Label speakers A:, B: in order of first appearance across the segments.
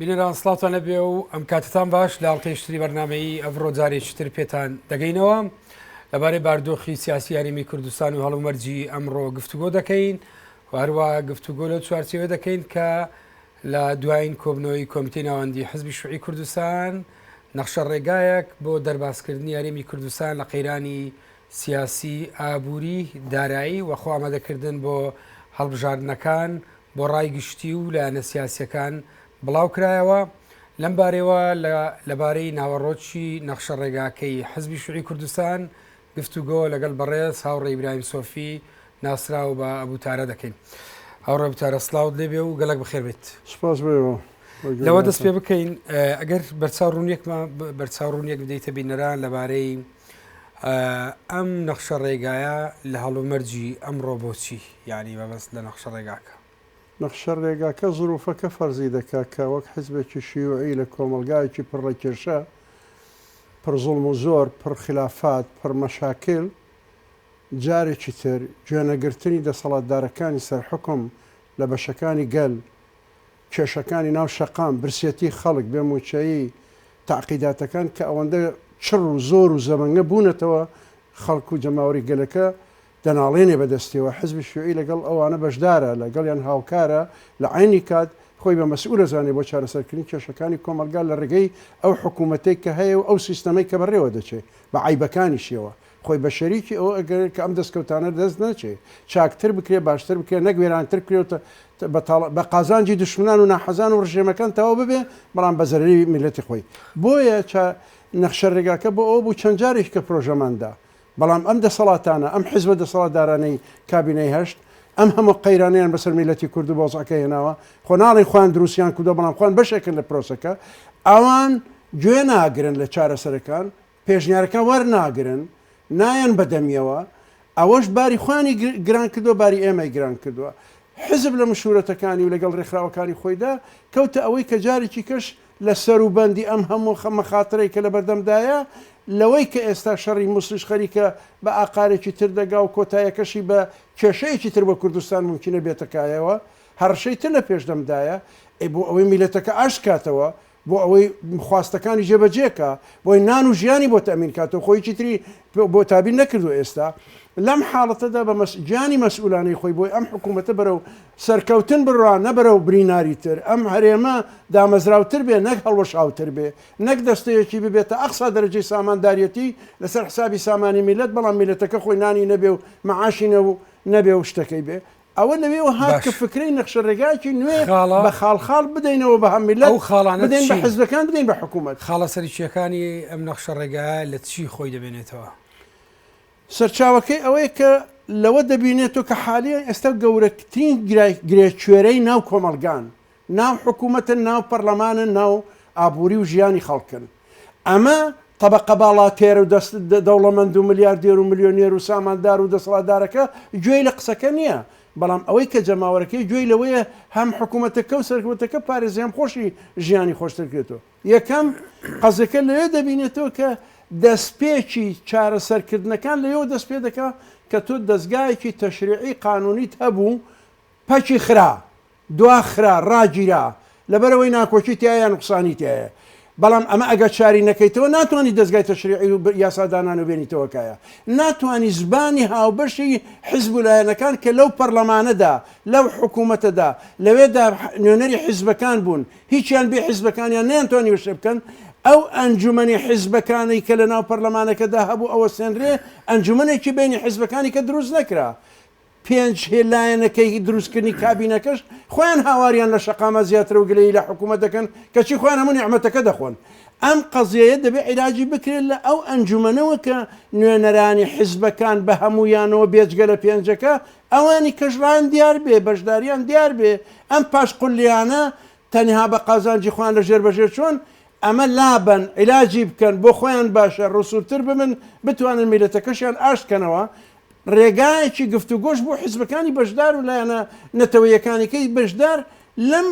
A: بینەران سڵاتان لەبێ و ئەم کاتتان باش لە ئەڵلقەیشتری بەرنمەیی ئەڤڕۆ جارێکتر پێتان دەگەینەوە لەبارەی باردۆخی سیاسی یاریمی کوردستان و هەڵومەرجی ئەمڕۆ گفتوگۆ دەکەین و هەروە گفتوگۆ لەو چوارچەوە دەکەین کە لە دوایین کۆبنەوەی کۆمیتی ناوەندی حزبی شوعی کوردستان نەخشە ڕێگایەک بۆ دەربازکردنی یاریمی کوردستان لە قەیرانی سیاسی ئابووری دارایی وەخۆ ئامادەکردن بۆ هەڵبژاردنەکان بۆ ڕای گشتی و لایەنە سیاسییەکان بڵاوکرایەوە، لەم بارەیەوە لە لەبارەی ناوەڕۆکی نەخشە ڕێگاکەی حزبی شوعی کوردستان گفتوگۆ لەگەڵ بەڕێز هاوڕێ ئیبراهیم سۆفی ناسراو بە ئەبو تارە دەکەین. هاوڕێ ئەبو تارە سڵاوت لێ بێ و گەلەک بەخێر بێیت. سپاس بۆ ئێوە.
B: لەوە دەست پێ
A: بکەین ئەگەر بەرچاو ڕوونیەکمان بەرچاو ڕوونیەک بدەیتە بینەران لەبارەی ئەم نەخشە ڕێگایە لە هەڵومەرجی ئەمڕۆ بۆ چی یانی مەبەست لە نەخشە ڕێگاکە؟ نەخشە
B: ڕێگاکە زرووفەکە فەرزی دەکات کە وەک حیزبێکی شیوعی لە کۆمەڵگایەکی پڕ لە کێشە، پڕ زوڵم و زۆر، پڕ خیلافات، پڕ مەشاکیل، جارێکی تر گوێنەگرتنی دەسەڵاتدارەکانی سەر حوکم لە بەشەکانی گەل، کێشەکانی ناو شەقام، برسێتی خەڵک، بێ مووچەیی، تەعقیداتەکان کە ئەوەندە چڕ و زۆر و زەبەنگە بوونەتەوە، خەڵک و جەماوەری گەلەکە دەناڵێنێ بە دەستیەوە، حزبی شیوعی لەگەڵ ئەوانە بەشدارە، لە گەڵیان هاوکارە، لە عەینی کات خۆی بە مەسئول ئەزانێ بۆ چارەسەرکردنی کێشەکانی کۆمەڵگا لە ڕێگەی ئەو حکوومەتەی کە هەیە و ئەو سیستەمەی کە بەڕێوە دەچێ، بە عەیبەکانیشیەوە، خۆی بە شەریکی ئەوە ئەگەرێت کە ئەم دەستکەوتانە دەست نەچێ چاکتر بکرێ باشتر بکرێ نەک وێرانتر بکرێ و تە تە بە تاڵە بە قازانجی دوشمنان و ناحەزان و ڕژێمەکان تەواو ببێ بەڵام بە زەرەری میللەتی خۆی بۆیە چا نەخشە ڕێگاکە بۆ ئەوە بوو چەند جارێک کە پرۆژەمان دا بەڵام ئەم دەسەڵاتانە ئەم حیزبە دەسەڵاتدارانەی کابینەی هەشت ئەم هەموو قەیرانەیان بەسەر میللەتی کورد و بەوزعەکەی هێناوە خۆ ناڵێن خۆیان دروستیان کردوە بەڵام خۆیان بەشێکن لە پرۆسەکە ئەوان گوێ ناگرن لە چارەسەرەکان پێشنیارەکان وەرناگرن، نایەن بەدەمیەوە، ئەوەش باری خۆیانی گران کردووە، باری ئێمەی گران کردووە. حزب لە مشورەتەکانی و لەگەڵ رێکخراوەکانی خۆیدا کەوتە ئەوەی کە جارێکی کەش لە سەروبەندی ئەم هەموو مەخاترەی کە لەبەردەمدایە لەوەی کە ئێستا شەڕی موسڵیش خەریکە بە ئاقارێکی تر دەگا و کۆتایەکەشی بە کێشەیەکی تر بۆ کوردستان مومکینە بێتە کایەوە، هەڕەشەی تر لە پێشدەمدایە، ئەی بۆ ئەوەی میللەتەکە ئاشت کاتەوە، بۆ ئەوەی خواستەکانی جێبەجێ کا بۆی نان و ژیانی بۆ تەمین کاتەوە خۆی هیچی تری بۆ تابین نەکردو ئێستا لەم حاڵەتەدا بە گیانی مەسئولانەی خۆی بۆی ئەم حکوومەتە بەرەو سەرکەوتن بڕا نەبەرەو بریناری تر ئەم هەرێمە دامەزراوتر بێ نەک هەڵوەشاوتر بێ نەک دەستەیەکی ببێتە ئەقسا دەرەجەی سامانداریەتی لەسەر حسابی سامانی میلەت بەڵام میلەتەکە خۆی نانی نەبێ و مەعاشی نەبێ و شتەکەی بێ ئەوە لەوێوە هات کە فکرەی نەخشەڕێگایەکی نوێ بە خاڵ خاڵ بدەینەوە بە هەم میللەت، ئەو خاڵانە بدەین بە حزبەکان، بدەین بە حکوومەت. خاڵە سەرەکییەکانی
A: ئەم نەخشەڕێگایە لە چی خۆی دەبێنێتەوە؟
B: سەرچاوەکەی ئەوەیە کە لەوە دەبینێتەوە کە حالیەن ئێستا گەورەترین گرێکوێرەی ناو کۆمەڵگان، ناو حکومەتن ناو پەڕلەمانن ناو ئابوری و ژیانی خەڵکن ئەمە تەبەقە باڵاتێرو دەست دەوڵەمەندو ملیاردێرو ملیۆنێرو ساماندارو دەسەڵاتدارەکە گوێی لە قسەکە نیە بەڵام ئەوەی کە جەماوەرەکەی گوێی لەوەیە هەم حکومەتەکەو سەرکوەتەکە پارێزی هەم خۆشی ژیانی خۆشتر کرێتەوە یەکەم قەزەکە لەوێ دەبینێتەوە کە دەستپێکی چارەسەر کردنەکان لەوێوە دەست پێ دەکا کە تۆ دەزگایەکی تەشریعی قانونیت هەبوو پەکی خرا دواخرا، ڕاگیرا، لەبەرئەوەی ناکۆکی تیایە یان نوقسانی تیایە. بەڵام ئەمە ئەگەر چاری نەکەیتەوە ناتوانی دەزگای تەشریعی و یاسادانانەوە بێنیتەوە کایە. ناتوانی زبانی هاوبەشی حیزب و لایەنەکان کە لەو پەڕلەمانەدا، لەو حکوومەتەدا، لەوێدا نوێنەری حیزبەکان بوون، هیچیان بێ حیزبەکانیان نەیانتوانیوە شتێ بکەن، ئەو ئەنجومەنی حیزبەکانەی کە لەناو پەڕلەمانەکەدا هەبوو ئەوەستێنرێ، ئەنجومەنێکی بەینی حیزبەکانی کە دروست نەکرا. پێنج هی لایەنەکەی هی دروستکردنی کابینەکەش خۆیان هاواریان لە شەقامە زیاترەو گلەیی لە حکومەت دەکەن کەچی خۆیان هەموو نیعمەتەکە دەخۆن ئەم قەزیەیە دەبێ عیلاجی بکرێت لە ئەو ئەنجومەنەوە کە نوێنەرانی حزبەکان بە هەموویانەوە بێجگە لە پێنجەکە ئەوانی کەش ڕایان دیار بێ بەشداریان دیار بێ ئەم پاش قلیانە تەنها بە قازانجی خۆیان لە ژێر بەژێر چۆن ئەمە لابەن عیلاجی بکەن بۆ خۆیان باشە ڕسووتر ببن بتوانن میلەتەکەشیان ئاشت کەنەوە ڕێگایەکی گفتوگۆش بۆ حیزبەکانی بەشدار و لایەنە نەتەوەیەکانیکەی بەشدار لەم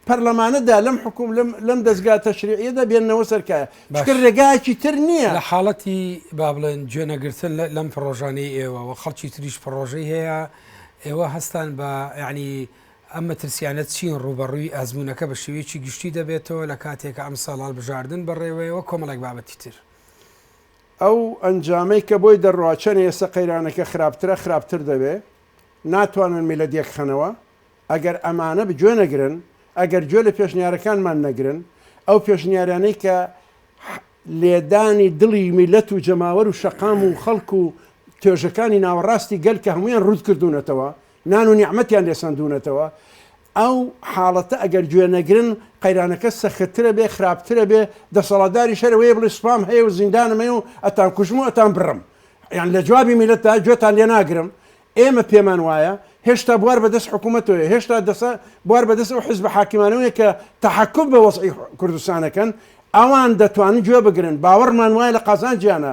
B: پەرلەمانەدا لەم حکوم لەم لەم دەستگا تەشریعیەدا بێننەوە سەر کایە باش. چونکە ڕێگایەکی تر نییە لە حاڵەتی
A: با بڵێن گوێنەگرتن لە- لەم پڕۆژانەی ئێوە و خەڵکی تریش پڕۆژەی هەیە ئێوە هەستان بە یعنی ئەم مەترسیانە چین ڕووبەڕووی ئەزموونەکە بە شێوەیەکی گشتی دەبێتەوە لە کاتێکە ئەمساڵ هەڵبژاردن بەڕێوەیەوە کۆمەڵێک بابەتی تر ئەو
B: ئەنجامەی کە بۆی دەڕوا چەنێ ئێسە قەیرانەکە خراپترە خراپتر دەبێ ناتوانن میلەت یەک خەنەوە ئەگەر ئەمانە بگوێ نەگرن ئەگەر گوێ لە پێشنیارەکانمان نەگرن ئەو پێشنیارانەی کە لێدانی دڵی میلەت و جەماوەر و شەقام و خەڵک و توێژەکانی ناوەڕاستی گەل کە هەمویان ڕووت کردوونەتەوە نان و نیعمەتیان لێسەندوونەتەوە ئەو حاڵەتە ئەگەر گوێ نەگرن قەیرانەکە سەختترە بێ خراپترە بێ دەسەڵاتداریش هەرە وەیە بڵێ سوپام هەیە و زیندانم هەیە و ئەتان کوژم و ئەتان بڕم یان لە جوابی میلەتدا گوێتان لێ ناگرم ئێمە پێمان وایە هێشتا بوار بە دەست حکوومەتەوەیە هێشتا دەسە بوار بە دەست ئەو حزبە حاکمانەوەیە کە تەحەکوم بە وەزعی کوردستان ئەکەن ئەوان دەتوانن گوێ بگرن، باوەڕمان وایە لە قازانجیانە،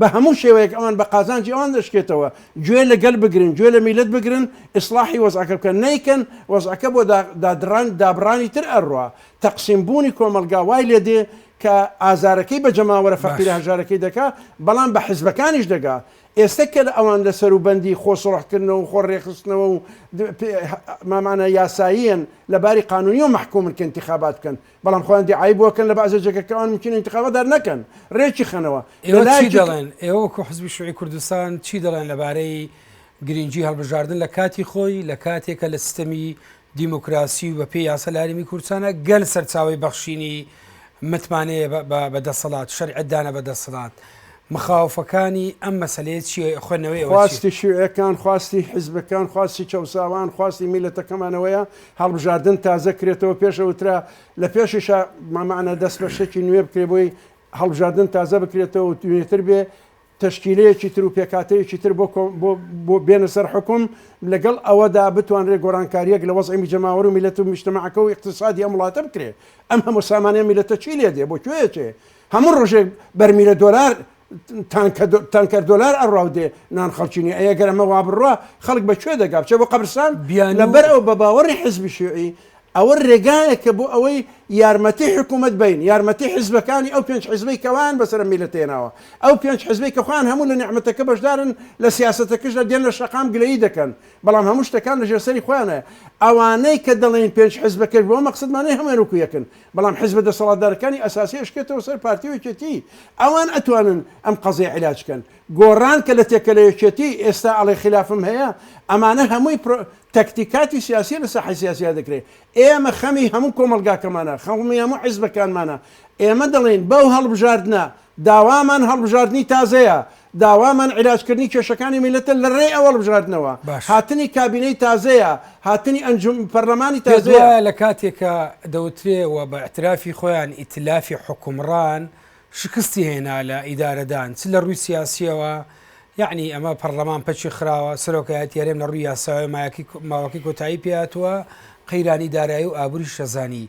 B: بە هەموو شێوەیەک ئەوان بە قازانجی ئەوان دەشکێتەوە، گوێ لە گەل بگرن، گوێ لە میللەت بگرن، ئیسڵاحی وەزعەکە بکەن، نەیکەن وەزعەکە بۆ دادڕان دابڕانی تر ئەڕوا، تەقسیم بوونی کۆمەڵگا وای لێ دێ کە ئازارەکەی بە جەماوەرە فەقیرە باش. هەژارەکەی دەکا، بەڵام بە حزبەکانیش دەگا، ئێستە کە لە ئەوان لە سەروبەندی خۆ سوڵح کردنەوە و خۆ ڕێکخستنەوە و مامانا یاساییەن لە باری قانونیەوە مەحکومن کە ئینتیخابات بکەن، بەڵام خۆیان دیعای بۆ کەن لە بەعزێ جێگە کەوان ممکینە ئینتقاڵە دار نەکەن رێکی خەنەوە ئێوە چی دەڵێن
A: ئێوە وەکو حزبی شوعی کوردستان چی دەڵێن لەبارەی گرنگی هەڵبژاردن لە کاتی خۆی لە کاتێکە لە سیستەمی دیموکراسی و بە پێی یاسە لاریمی کورسانە گەل سەرچاوی بەخشینی متمانەیە بە دەسەڵات شەرعدانە بە دەسەڵات مخاوفەکانی ئەم مەسلەیە چیە خوێنەوەی خواستی شوێەکان
B: خواستی حزبەکان خواستی چەساوان خواستی میلەتەکەمانەوەیە هەڵبژاردن تازە کرێتەوە پێش ئەوترا لە پێشیشا مامانە دەست بە شتێکی نوێ بکرێ بۆی هەڵبژاردن تازە بکرێتەوە نوێتر بێ تشکیلەیەکی تر و پێکاتەیەکی تر بۆ بۆ بێنە سەر حکوم لەگەڵ ئەوەدا بتوانرێ گۆرانکاریەک لە وەزعی جەماوەر و میلەت و میشتمەعەکە و اقتصادی ئەم وڵاتە بکرێ ئەم هەموو سامانە میلەتە چی لێ دێ بۆ کوێچێ هەموو ڕۆژێک بەرمیلە دۆلار تانکە تانکەر دۆلار ئەڕا و دێ نان خەڵکی نیە ئەگەر ئەمە وا بڕوا خەڵک بە کوێ دەگا بچێ بۆ قەبرستان بیانوو لەبەر ئەوە بە باوەڕی حزبی شیوعی ئەوە رێگایەکە بۆ ئەوەی یارمەتی حکوومەت بین یارمەتی حزبەکانی ئەو پێنج حزبەی کەوان بەسەر میلەت هێناوە ئەو پێنج حزبەی کە خۆیان هەموو لە نیعمەتەکە بەشدارن لە سیاسەتەکەشدا دێن لە شەقام گلەیی دەکەن بەڵام هەموو شتەکان لەژێر سەری خۆیانە ئەوانەی کە دەڵێن پێنج حزبەکەش بۆ مەقسەدمانەی هەموویان وەکو یەکن بەڵام حزبە دەسەڵاتدارەکانی ئەساسی ئەشکێتەوە سەر پارتی و یەکێتی ئەوان ئەتوانن ئەم قەزیە عیلاج کەن گۆڕان کە لە تێکەلە یەکێتی ئێستا ئەڵێ خیلافم هەیە ئەمانە هەمووی پرۆ تەکتیکاتی سیاسی لە ساحەی سیاسیا دەکرێ ئێمە خەمی هەموو کۆمەڵگاکەمانە خەومی هەموو حزبەکانمانە ئێمە دەڵێن بەو هەڵبژاردنە داوامان هەڵبژاردنی تازەیە، داوامان عیلاجکردنی کێشەکانی میللەتە لە رێی ئەو هەڵبژاردنەوە، باش. هاتنی کابینەی تازەیە، هاتنی ئەنجوم پەرلەمانی پێت تازەیە. وایە لە کاتێکا
A: دەوترێ و بە ئیعترافی خۆیان ئیتلافی حوکمڕان شکستی هێنا لە ئیدارەدان چ لە رووی سیاسییەوە یەعنی ئەمە پەرلەمان پەکی خراوە، سەرۆکایەتی هەرێم لە رووی یاسایەوە مایەکی ماوەکەی کۆتایی پێهاتووە، قەیرانی دارایی و ئابووریش ئەزانی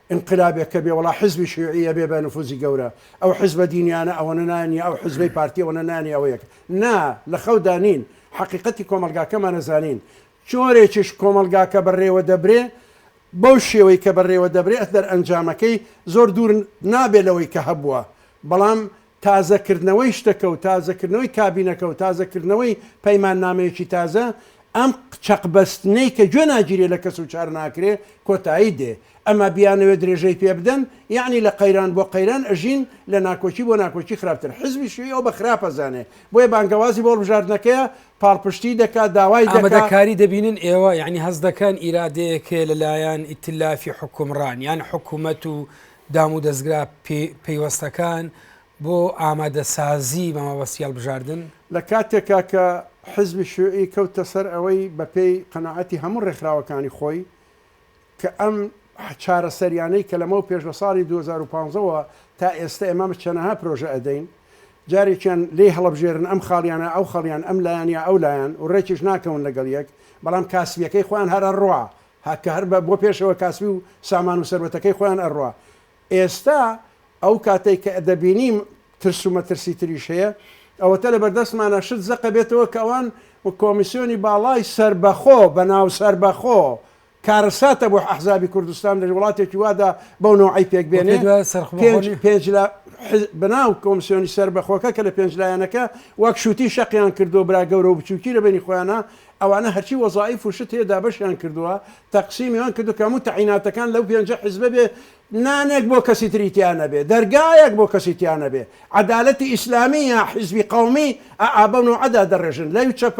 B: ئینقلابێک کە بێ وەڵا حیزبی شیوعی ئەبێ بە نفوزی گەورە ئەو حیزبە دینیانە ئەوەنە نانیە ئەو حیزبەی پارتی ئەوەنە نانیە ئەوە یەکە نا لە خەودا نین حەقیقەتی کۆمەڵگاکەمان ئەزانین جۆرێکیش کۆمەڵگاکە بە رێوە دەبرێ بەو شێوەی کە بە رێوە دەبرێ ئەتدەرئەنجامەکەی زۆر دوور نابێ لەوەی کە هەبووە بەڵام تازەکردنەوەی شتەکە و تازەکردنەوەی کابینەکە و تازەکردنەوەی پەیماننامەیەکی تازە، ئەم چەقبەستنەی کە گوێ ناگیرێ لە کەس و چار ناکرێ، کۆتایی دێ. ئەما بیانەوێ درێژەی پێ بدەن، یەعنی لە قەیران بۆ قەیران ئەژین، لە ناکۆکی بۆ ناکۆکی خراپتر. حیزبی شیوعی ئەو بە خراپ ئەزانێ، بۆیە بانگەوازی بۆ هەڵبژاردنەکەیە، پاڵپشتیی دەکا، داوای دەکا. ئامادەکاری دەبینن
A: ئێوە، یەعنی هەست دەکەن ئیرادەیەک هەیە لە لایەن ئیتلافی حوکمڕان، یان حکومەت و دامودەزگا پەیوەستەکان بۆ ئامادەسازی مامەبەستی هەڵبژاردن. لە کاتێکا
B: کە حیزبی شیوعی کەوتە سەر ئەوەی بە پێی قەناعەتی هەموو ڕێکخراوەکانی خۆی کە ئەم چارەسەریانەی کە لەمەو پێش لە ساڵی دوو هەزار و پازدە وە تا ئێستە ئێمە چەنەها پرۆژە ئەدەین جارێکیان لێی هەڵەبژێرن ئەم خاڵیانە ئەو خەڵیان ئەم لایەن یا ئەو لایەن و ڕێکیش ناکەون لەگەڵ یەک بەڵام کاسبیەکەی خۆیان هەرە ڕا هه کە هه ربە بۆ پێشەوە کاسبی و سامان و سەروەتەکەی خۆیان ئەڕوا ئێستا ئەو کاتەی کە دەبینیم ترس و مەترسی تریش هەیە ئەوەتە لە بەردەستمانە شت زەقە بێتەوە کە ئەوان کۆمیسیۆنی باڵای سەربەخۆ بە ناو سەربەخۆ کارەساتە بۆ ئەحزابی کوردستان لە وڵاتێکی وادا بەو نەوعی پێک بێنێ وتێ دوای سەرخ پێنج بەخۆنی پێنج لە حز- بەناو کۆمسیۆنی سەربەخۆکە کە لە پێنج لایەنەکە وەک شووتی شەقیان کردو برا گەورە و بچووکی لە بینی خۆیانە ئەوانە هەرچی وەزائیف و شت هەیە دابەشیان کردووە تەقسیمیان کردووە کە هەموو تەعیناتەکان لەو پێنجە حزبە بێ نانێک بۆ کەسی تری تیا نەبێ دەرگایەک بۆ کەسی تیا نەبێ عەدالەتی ئیسلامی یا حزبی قەومی ئا بەو نەوعە دادەڕێژن لەو چەپ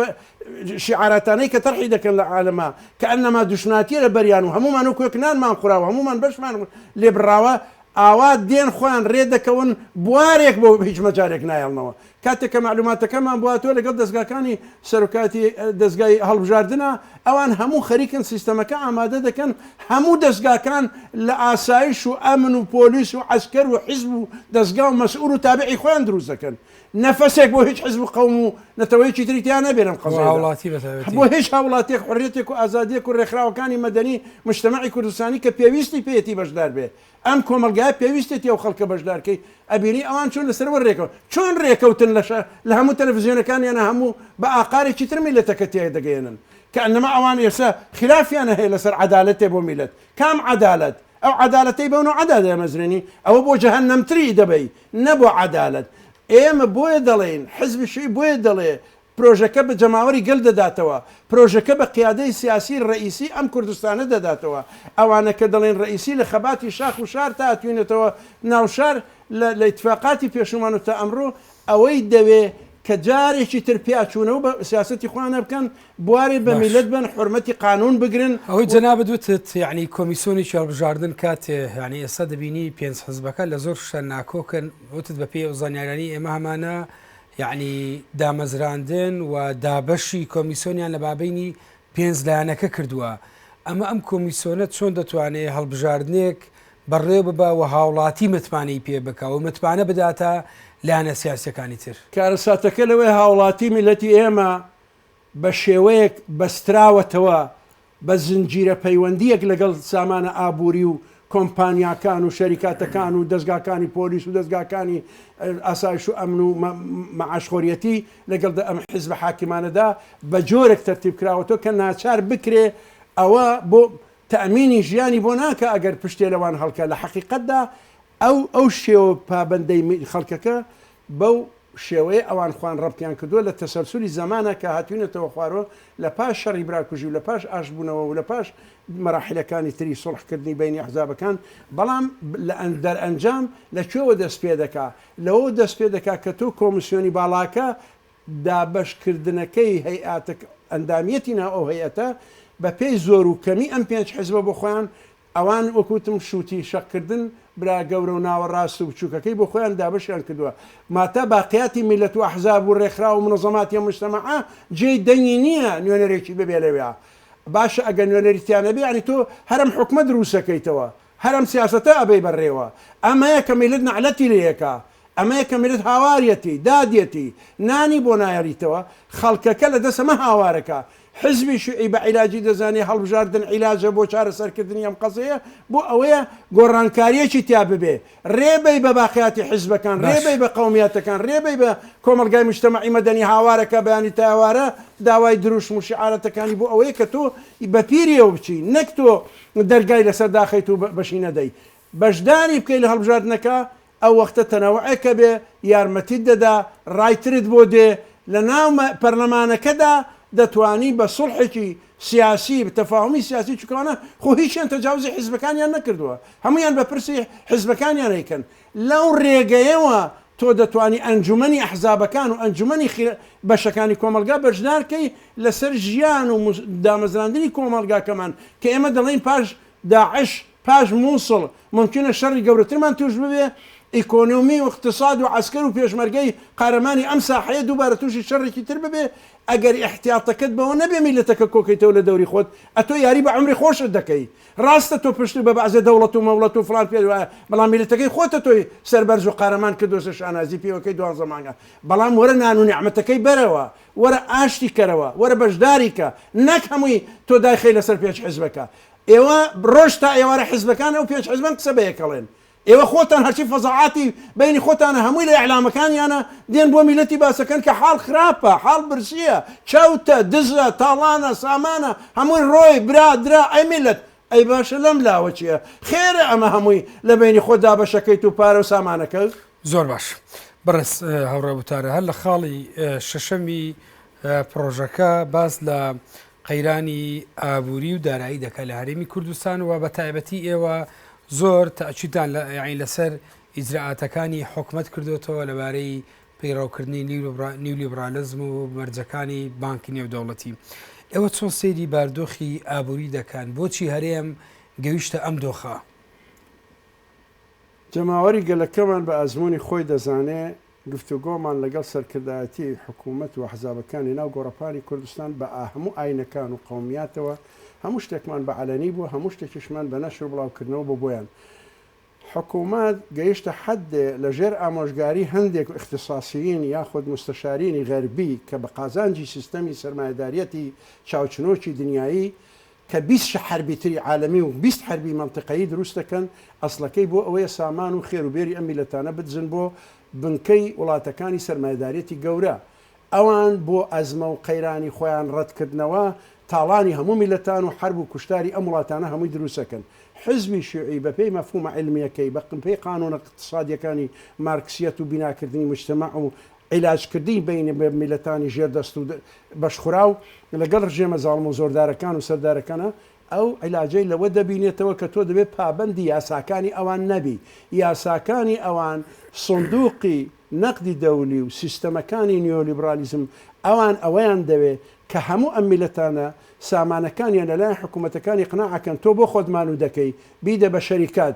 B: شیعاراتانەی کە تەرحی دەکەن لە عالەما کەئەنەما دوشمناتی لە بەریان و هەموومان وەک وەک نانمان خوراوە هەموومان بەشمان لێ بڕاوە ئاوا دێن خۆیان رێ دەکەون بوارێک بۆ هیچ مەجالێک نایەڵنەوە کاتێک کە مەعلوماتەکەمان بواتوە لەگەڵ دەزگاکانی سەرۆکایەتی دەزگای هەڵبژاردنە، ئەوان هەموو خەریکن سیستەمەکە ئامادە دەکەن، هەموو دەزگاکان لە ئاسایش و ئەمن و پۆلیس و عەسکەر و حیزب و دەزگا و مەسئول و تابعی خۆیان دروست دەکەن، نەفەسێک بۆ هیچ حیزب و قەوم و نەتەوەیەکی تری تیا نەبێ لەم قەزیەیەدا، بۆ هیچ هاوڵاتیەک حوریەتێک و ئازادیەک و رێکخراوەکانی مەدەنی مجتەمەعی کوردستانی کە پێویستی پێیەتی بەشدار بێ ئەم کۆمەڵگایە پێویستێتی ئەو خەڵکە بەشدارکەی ئەبینی ئەوان چۆن لەسەر وە رێکەون چۆن رێکەوتن لەشە لە هەموو تەلەفزیۆنەکانیانە هەموو بە ئاقارێکی تر میلەتەکە تیای دەگەیەنن کەئەنەما ئەوان ئێسە خلافیانە هەیە لەسەر عەدالەتێ بۆ میلەت کام عەدالەت ئەو عەدالەتەی بەو نەوعەدا دەیەمەزرێنی ئەوە بۆ جەهەنەمتری دەبەی نە بۆ عەدالەت ئێمە بۆیە دەڵێین حزب شوی بۆیە دەڵێ پرۆژەکە بە جەماوەری گەل دەداتەوە، پرۆژەکە بە قیادەی سیاسی رەئیسی ئەم کوردستانە دەداتەوە. ئەوانە کە دەڵێن رەئیسی لە خەباتی شاخ و شار تا ئەتوینێتەوە ناو شار لە لە ئیتفاقاتی پێشوومان و تا ئەمڕۆ ئەوەی دەوێ کە جارێکی تر پیا چوونەوە بە سیاسەتی خۆیانا بکەن، بوارێ بە باش. میللەت بەن، حورمەتی قانوون بگرن ئەوەی و. جەنابت وتت
A: یەعنی کۆمیسۆنێکی هەڵبژاردن کاتێ یەعنی ئێستا دەبینی پێنج حزبەکە لە زۆر شتە ناکۆکن، وتت بە پێی ئەو زانیاریانەی ئێمە هەمانە یەعنی دامەزراندن و دابەشی کۆمیسۆنیان لە مابەینی پێنج لایەنەکە کردووە، ئەمە ئەم کۆمیسۆنە چۆن دەتوانێ هەڵبژاردنێک بەڕێوە ببا و هاوڵاتی متمانەی پێ بکا و متمانە بداتە لایەنە سیاسیەکانی تر؟ کارەساتەکە لەوەیە
B: هاوڵاتی میللەتی ئێمە بە شێوەیەک بەستراوەتەوە بە زنجیرە پەیوەندییەک لەگەڵ سامانە ئابووری و کۆمپانیاکان و شەریکاتەکان و دەزگاکانی پۆلیس و دەزگاکانی ئاسایش و ئەمن و مەعاشخۆریەتی لەگەڵ دە ئەم حیزبە حاکمانەدا بە جۆرێک تەرتیب کراوەتەوە کە ناچار بکرێ ئەوە بۆ تەمینی ژیانی بۆ ناکە ئەگەر پشتێ لەوان هەڵکە لە حەقیقەتدا ئەو ئەو شێوە پابەندەی خەڵکەکە بەو شێوەیە ئەوان خۆیان ڕەبتیان کردووە لە تەسەلسولی زەمانە کە هاتووینەتەوە خوارەوە لە پاش شەڕی براکوژی و لە پاش ئاشتبوونەوە و لە پاش مەراحیلەکانی تری سوڵحکردنی بەینی ئەحزابەکان بەڵام لە دەرئەنجام لە کوێوە دەست پێ دەکا لەوەوە دەست پێ دەکا کە تۆ کۆمسیۆنی باڵاکە دابەش کردنەکەی هەیئاتە ئەندامیەتی ناو ئەو هەیئەتە بە پێی زۆر و کەمی ئەم پێنج حزبە بۆ خۆیان ئەوان وەک وتم شووتی شەق کردن برا گەورە و ناوەڕاست و بچووکەکەی بۆ خۆیان دابەشیان کردووە ماتا باقیاتی میللەت و ئەحزاب و ڕێکخراو و منەزەماتی ئەم مجتەمەعە جێی دەنگی نییە نوێنەرێکی ببێ لەوێ باشە ئەگەر نوێنەری تیا نەبێ یانی تۆ هەر ئەم حوکمە درووست ئەکەیتەوە هەر ئەم سیاسەتە ئەبەی بەرڕێوە ئەمەیە کە میللەت نەعلەتی لێ ئەکا ئەمەیە کە میللەت هاواریەتی دادیەتی نانی بۆ نایەڵیتەوە خەڵکەکە لە دەست ئەمە هاوارەکا حزبی شیوعی بە عیلاجی دەزانێ، هەڵبژاردن عیلاجە بۆ چارەسەرکردنی ئەم قەزیەیە، بۆ ئەوەیە گۆڕانکاریەکی تیا ببێ، رێ بەی بە باقیاتی حزبەکان، رێ بەی بە قەومیاتەکان، رێ بەی بە کۆمەڵگای موجتەمەعی مەدەنی هاوارە کە بەیانی تا ئێوارە داوای دروشم و شیعارەتەکانی بۆ ئەوەیە کە تۆ بە پیریەوە بچی، نەک تۆ دەرگای لەسەر داخەیت و بەشی نەدەی بەشداری بکەی لە هەڵبژاردنەکە، ئەو وەختە تەنەوعێکە بێ یارمەتیت دەدا ڕای ترت بۆ دێ لە ناو پەرلەمانەکەدا دەتوانی بە سوڵحێکی سیاسی تەفاهومی سیاسی چونکە ئەوانە خۆ هیچیان تەجاوزی حیزبەکانیان نەکردووە هەموویان بە پرسی حیزبەکانیان ئەیکەن لەو ڕێگەیەوە تۆ دەتوانی ئەنجومەنی ئەحزابەکان و ئەنجومەنی بەشەکانی کۆمەڵگا بەشدار کەی لەسەر ژیان و دامەزراندنی کۆمەڵگاکەمان کە ئێمە دەڵێین پاش داعش پاش موسڵ مومکینە شەڕی گەورەترمان تووش ببێ، ئیکۆنۆمی و ئیقتساد و عەسکەر و پێشمەرگەی قارەمانی ئەم ساحەیە دووبارە تووشی شەڕێکی تر ببێ، ئەگەر ئیحتیاتەکەت بەوە نەبێ میللەتەکە کۆکەیتەوە لە دەوری خۆت، ئەتۆ یاری بە عومری خۆشت دەکەی. راستە تۆ پشتت بە بەعزێ دەوڵەت و مەوڵەت و فڵان پێت وایە، بەڵام میللەتەکەی خۆتە تۆی سەربەرز و قارەمان کردووەسە شانازی پێوەکەی دوانزە مانگە، بەڵام وەرە نان و نیعمەتەکەی بەرەوە، وەرە ئاشتی کەرەوە، وەرە بەشداری کە، نەک هەمووی تۆ دایخەی لەسەر پێچ حزبەکە. ئێوە ڕۆژ تا ئێوارە حیزبەکان ئەو پێنج حیزبەن قسە بە یەکەڵێن ئێوە خۆتان هەرچی فەزاعاتی بەینی خۆتانە هەمووی لە ئیعلامەکانیانە دێن بۆ میلەتی باسەکەن کە حاڵ خراپە حاڵ برسیە چەوتە دزە تاڵانە سامانە هەمووی ڕۆی برا درا ئەی میلەت ئەی باشە لەم لاوە چیە خێرە ئەمە هەمووی لە بەینی خۆت دابەشەکەیت و پارە و سامانەکە زۆر باش
A: بەڕێز هاوڕێ وتارە هەر لە خاڵی شەشەمی پرۆژەکە باس لە قەیرانی ئابوری و دارایی دەکات لە هەرێمی کوردستان و بەتایبەتی ئێوە زۆر تاچیتان لە یاین لەسەر ئیجرراعاتەکانی حکومت کردوێتەوە لەبارەی پەیڕاوکردنی نیولیبرالزم و مەرجەکانی بانکی نێودەوڵەتی ئێوە چۆن سەیری باردۆخی ئابووری دەکەن بۆچی هەرێم گەویشتە ئەم دۆخە
B: جەماوەری گەلەکەمان بە ئەزموونی خۆی دەزانێ گفتوگۆمان لەگەڵ سەرکردایەتیی حکوومەت و ئەحزابەکانی ناو گۆڕەپانی کوردستان بە هەموو ئاینەکان و قەومیاتەوە، هەموو شتێکمان بە عەلەنی بوو، هەموو شتێکیشمان بە نەشر و بڵاوکردنەوە بۆ بۆیان. حکوومەت گەیشتە حەدێ لە ژێر ئامۆژگاریی هەندێک ئیختیساسیین یاخود موستەشاریینی غەربی کە بە قازانجی سیستەمی سەرمایەدارییەتی چاوچنۆکی دنیایی کە بیست شە حەربی تری عالەمی و بیست حەربی مەنتقەیی دروست دەکەن، ئەسڵەکەی بۆ ئەوەیە سامان و خێر و بێری ئەم میلەتانە بدزن بۆ بنکەی وڵاتەکانی سەرمایەداریەتی گەورە. ئەوان بۆ ئەزمە و قەیرانی خۆیان ڕەت کردنەوە تاڵانی هەموو میلەتان و حەرب و کوشتاری ئەم وڵاتانە هەمووی دروست ئەکەن. حزبی شیوعی بە پێی مەفهومە عیلمیەکەی، بە پێی قانونە ئقتسادیەکانی مارکسیەت و بیناکردنی مجتمع و عیلاجکردنی بەینی میللەتانی ژێر دەست و بەشخوراو لەگەڵ ڕژێمە زاڵم و زۆردارەکان و سەردارەکانە، ئەو عیلاجەی لەوە دەبینێتەوە کە تۆ دەبێت پابەندی یاساکانی ئەوان نەبی، یاساکانی ئەوان سندوقی نەقدی دەولی و سیستەمەکانی نیۆلیبرالیزم، ئەوان ئەوەیان دەوێ کە هەموو ئەم میللەتانە سامانەکانیان لەلایەن حکوومەتەکان ئیقناع ئەکەن، تۆ بۆ خۆت مانوو دەکەی، بیدە بە شەریکات.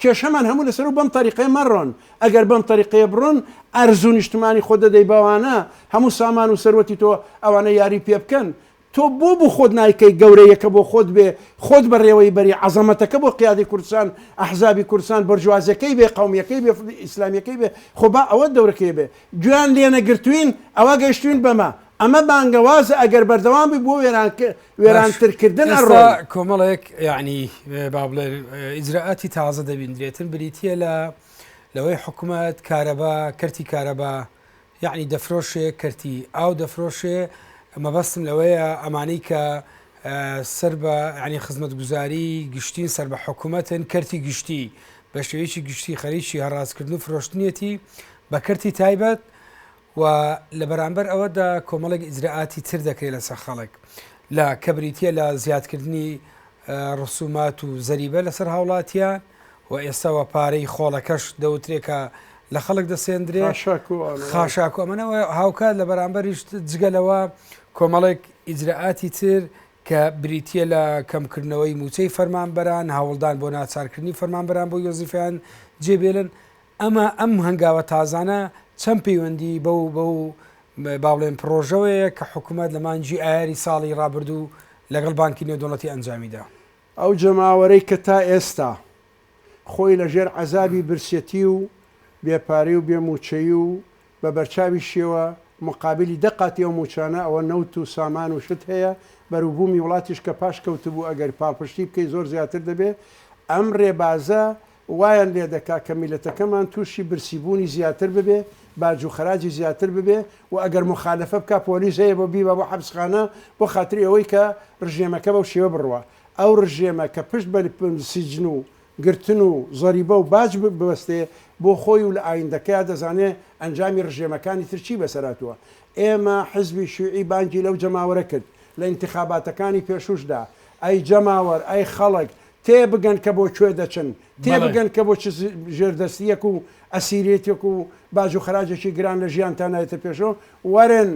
B: کێشەمان هەموو لەسەر و بەم تەریقەیە مەڕۆن، ئەگەر بەم تەریقەیە بڕۆن ئەرز و نیشتمانی خۆت دەدەی بەوانە، هەموو سامان و سەروەتی تۆ ئەوانە یاری پێ بکەن، تۆ بۆ بۆ خۆت نایکەی گەورەیەکە بۆ خۆت بێ، خۆت بەڕێوەی بەری، عەزەمەتەکە بۆ قیادەی کوردستان، ئەحزابی کوردستان، بۆرجوازیەکەی بێ، قەومیەکەی بێ، ئیسلامیەکەی بێ، خۆ با ئەوە دەورەکەی بێ گوێیان لێنەگرتوین ئەوا گەیشتوین بەمە، ئەمە بانگەوازە ئەگەر بەردەوام بی بۆ وێرانترکردن ئەڕۆ کۆمەڵێک یعنی
A: با بڵێن ئیجرراعاتی تازە دەبیندرێتن بریتە لە لەوەی حکوومەت کارەبا کەرتی کارەبا یعنی دەفرۆشێ کەرتی ئاو دەفرۆشێ مەبەستم لەوەیە ئەمانەی کە سەر بە ینی خزمەت گوزاری گشتین سەر بە حکوومەتن کەرتی گشتی بە شێوەیەکی گشتی خەریکی هەڕاستکردن و فرۆشتنیەتی بە کەرتی تایبەت و لە بەرامبەر ئەوەدا کۆمەڵێک ئیجرائاتی تر دەکرێت لەسەر خەڵک لە کە بریتە لە زیادکردنی ڕسومات و زەریبە لەسەر هاوڵاتیان و ئێستاوە پارەی خۆڵەکەش دەوترێکە لە خەڵک دەسێندرێ خاشاکو ئەمەەوە هاوکات لە بەرامبەریش جگەلەوە کۆمەڵێک ئیجرراعاتی تر کە بریتە لە کەمکردنەوەی موچەی فەرمانبەران هاوڵدان بۆ ناچارکردنی فەرمانبەران بۆ یۆزیفیان جێبێلن ئەمە ئەم هەنگاوە تازانە چەند پەیوەندی بەو بەو با بڵێن پڕۆژەوەیە کە حکومەت لە مانگی ئایاری ساڵی ڕابردوو لەگەڵ بانکی نێودەوڵەتی ئەنجامیدا؟ ئەو جەماوەرەی
B: کە تا ئێستا خۆی لە ژێر عەزابی برسیەتی و بێ پارەی و بێ مووچەی و بە بەرچاوی شێوە موقابیلی دە قاتی ئەو مووچانە ئەوە نەوت و سامان و شت هەیە بەروبوومی وڵاتیش کە پاش کەوتبوو ئەگەر پاڵپشتی بکەی زۆر زیاتر دەبێ ئەم ڕێبازە وایان لێ دەکا کە میللەتەکەمان تووشی برسی بوونی زیاتر ببێ، باج و خەراجی زیاتر ببێ و ئەگەر موخالەفە بکا پۆلیس هەیە بۆ بیبا بۆ حەپسخانە بۆ خاتری ئەوەی کە ڕژێمەکە بەو شێوە بڕوا. ئەو ڕژێمە کە پشت بە سجن و گرتن و زەریبە و باج ببەستێ بۆ خۆی و لە ئایندەکەیا دەزانێ ئەنجامی ڕژێمەکانی تر چی بەسەر هاتووە. ئێمە حزبی شیوعی بانگی لەو جەماوەرە کرد لە ئینتخاباتەکانی پێشووش دا ئەی جەماوەر ئەی خەڵک تێ بگەن کە بۆ کوێ دەچن، تێ بەڵێ. بگەن کە بۆ چ ژێردەستییەک و ئەسیرێتییەک و باج و خەراجێکی گران لە ژیانتان نایەتە پێشەوە، وەرن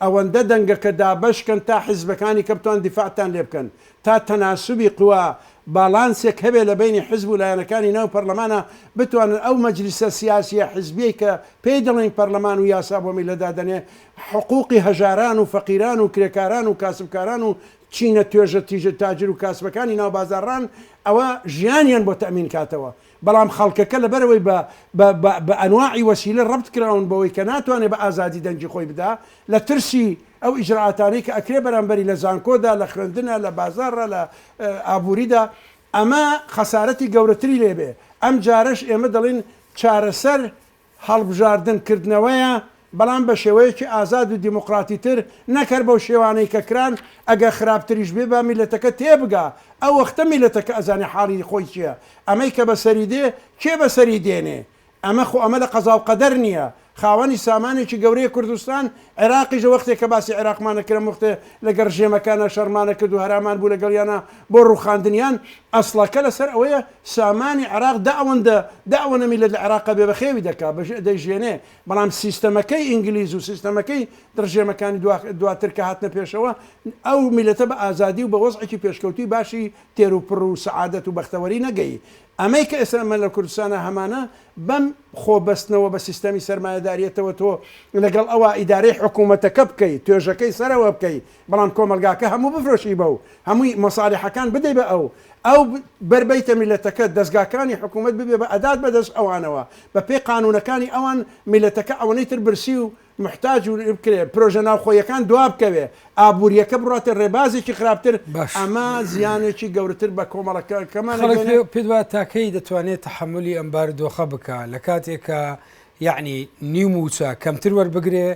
B: ئەوەندە دەنگەکە دابەش کەن تا حیزبەکانی کە بتوان دیفاعتان لێ بکەن، تا تەناسوبی قوا، باڵانسێک هەبێ لە بەینی حیزب و لایەنەکانی ناو پەرلەمانا، بتوانن ئەو مەجلیسە سیاسییە حیزبییەی کە پێی دەڵێین پەرلەمان و یاسا بۆ میللەت دادەنێ، حقووقی هەژاران و فەقیران و کرێکاران و کاسبکاران و چینە توێژە تیژە تاجر و کاسبەکانی ناو بازاڕان ئەوە ژیانیان بۆ تەئمین کاتەوە بەڵام خەڵکەکە لەبەرئەوەی بە بە بە بە ئەنواعی وەسیلە ڕەبت کراون بەوەی کە ناتوانێ بە ئازادی دەنگی خۆی بدا لە ترسی ئەو ئیجرائاتانەی کە ئەکرێ بەرامبەری لە زانکۆدا لە خوێندنا لە بازاڕا لە ئابووریدا ئەمە خەسارەتی گەورەتری لێ بێ ئەم جارەش ئێمە دەڵێن چارەسەر هەڵبژاردن کردنەوەیە بەڵام بە شێوەیەکی ئازاد و دیموقراتی تر نەک هەر بەو شێوانەی کە کران ئەگەر خراپتریش بێ با میلەتەکە تێبگا ئەو وەختە میلەتەکە ئەزانێ حاڵی خۆی چیە ئەمەی کە بەسەری دێ کێ بەسەری دێنێ ئەمە خۆ ئەمە لە قەزاو قەدەر نیە خاوەنی سامانێکی گەورەیە کوردستان عێراقیش وەختێ کە باسی عێراقمان ئەکرم وەختێ لەگەڵ ڕژێمەکانا شەڕمان ئەکرد و هەرامان بوو لەگەڵیانا بۆ ڕوخاندنیان ئەسڵەکە لەسەر ئەوەیە سامانی عێراق دە ئەوەندە دە ئەوەنە میللەت لە عێراقا بێ بەخێوی دەکا بە دەیژێنێ بەڵام سیستەمەکەی ئینگلیز و سیستەمەکەی دڕژێمەکانی دوا دواتر کە هاتنە پێشەوە ئەو میللەتە بە ئازادی و بە وەزعێکی پێشکەوتووی باشی تێر و پڕ و سەعادەت و بەختەوەری نەگەی ئەمەی کە ئێستا ئەمە لە کوردستانا هەمانە بەم خۆ بەستنەوە بە سیستەمی سەرمایەداریەتەوە تۆ لەگەڵ ئەوا ئیدارەی حکوومەتەکە بکەی توێژەکەی سەرەوە بکەی بەڵام کۆمەڵگاکە هەموو بفرۆشی بە و هەمووی مەسالیحەکان بدەی بە ئەو، ئەو بەر بەیتە میلەتەکە، دەزگاکانی حکوومەت ببێ بە ئەدات بە دەست ئەوانەوە، بە پێی قانوونەکانی ئەوان میلەتەکە ئەوەنەی تر برسی و موحتاج و بکرێ، پرۆژە ناوخۆییەکان دوا بکەوێ، ئابوورییەکە بڕواتە ڕێبازێکی خراپتر، باش. ئەمە زیانێکی گەورەتر بە کۆمەڵەکەکەمان خەڵک ئەگەێنێ. پێ پێت وایە تا
A: کەی دەتوانێ تەحەمولی ئەم بارودۆخە بکا لە کاتێک کە یەعنی نیو مووچە کەمتر وەربگرێ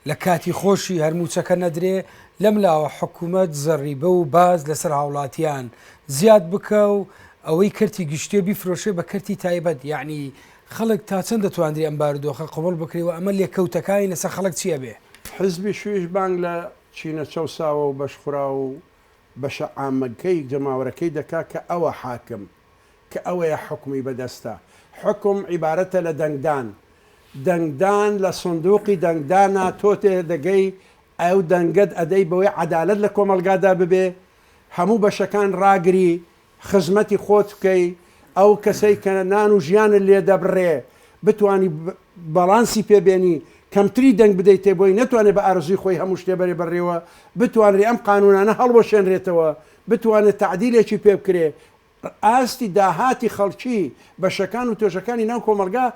A: لە کاتی خۆشی هەر مووچەکە نەدرێ، لەم لاوە حکوومەت زەڕیبە و باج لەسەر هاوڵاتیان زیاد بکا و ئەوەی کەرتی گشتیە بیفرۆشێ بە کەرتی تایبەت، یەعنی خەڵک تا چەند دەتواندرێ ئەم بارودۆخە قبووڵ بکرێ و ئەمە لێکەوتەکانی لەسەر خەڵک چی ئەبێ؟ حیزبی شویش
B: بانگ لە چینە چەوساوە و بەشخوراو و بەشە عامەگکەی جەماوەرەکەی دەکا کە ئەوە حاکم، کە ئەوەیە حوکمی بەدەستە. حوکم عیبارەتە لە دەنگدان. دەنگدان لە سندوقی دەنگدانا تۆ تێدەگەی ئەو دەنگەت ئەدەی بەوەی عەدالەت لە کۆمەڵگادا ببێ، هەموو بەشەکان ڕاگری، خزمەتی خۆت بکەی، ئەو کەسەی کە نان و ژیانت لێ دەبڕێ بتوانی بەڵانسی پێ بێنی، کەمتری دەنگ بدەیتێ بۆی نەتوانێ بە ئارەزووی خۆی هەموو شتێ بەرێ بەڕێوە بتوانرێ ئەم قانوونانە هەڵوەشێنرێتەوە بتوانێت تەعدیلێکی پێ بکرێت، ئاستی داهاتی خەڵکی بەشەکان و توێژەکانی ناو کۆمەڵگا،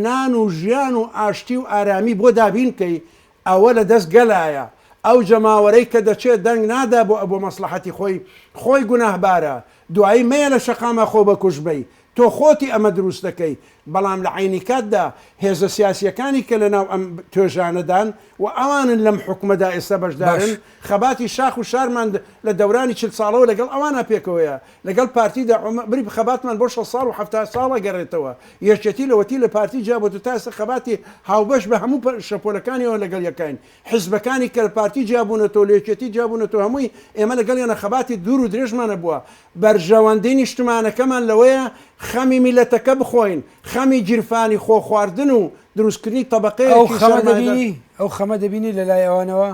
B: نان و ژیان و ئاشتی و ئارامی بۆ دابین بکەی، ئەوە لە دەست گەلایە، ئەو جەماوەرەی کە دەچێت دەنگ نادا بۆ مەسڵەحەتی خۆی، خۆی گوناهبارە، دوایی مەیە لە شەقامە خۆ بەکوژ بی، تۆ خۆتی ئەمە دروست دەکەی، بەڵام لە عەینی کاتدا هێزە سیاسییەکانی کە لەناو ئەم توێژانەدان و ئەوانن لەم حوکمەدا ئێستا بەشدارن، باش. خەباتی شاخ و شارمان لە دەورانی چل ساڵەوە لەگەڵ ئەوانە پێکەوەیە، لەگەڵ پارتی دا عومر بری خەباتمان بۆ شەست ساڵ و حەفتا ساڵ ئەگەڕێتەوە، یەکێتی لەوەتی لە پارتی جیا بۆتە تا ئێستا خەباتی هاوبەش بە هەموو شەپۆلەکانیەوە لەگەڵ یەکاین، حیزبەکانی کە لە پارتی جیا بوونەتەوە لە یەکێتی جیا بوونەتەوە هەمووی ئێمە لەگەڵیانە خەباتی دوور و درێژمان هەبووە، بەرژەوەندی نیشتمانەکەمان لەوەیە خەمی میللەتەکە بخۆین، خەمی گیرفانی خۆخواردن و دروستکردنی ئەو تەبەقەیەکی خەمە سەرمایەدار. دەبینی،
A: ئەو خەمە دەبینی لەلای ئەوانەوە،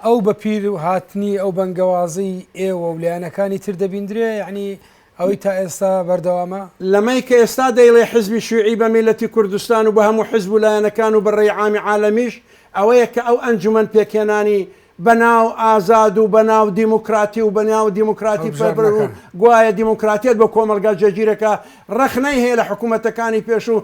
A: ئەو بەپیر هاتنی ئەو بەنگەوازەی ئێوە و لایەنەکانی تر دەبیندرێ، یەعنی ئەوەی تا ئێستا بەردەوامە؟ لەمەی کە ئێستا
B: دەیڵێ حزبی شیوعی بە میللەتی کوردستان و بە هەموو حزب و لایەنەکان و بە رێی عامی عالەمیش، ئەوەیە کە ئەو ئەنجومەن پێکهێنانی بەناو ئازاد و بەناو دیموکراتی و بەناو دیموکراتی فێربن و گوایە دیموکراتیت بۆ کۆمەڵگا جێگیرەکە ڕەخنەی هەیە لە حکوومەتەکانی پێش و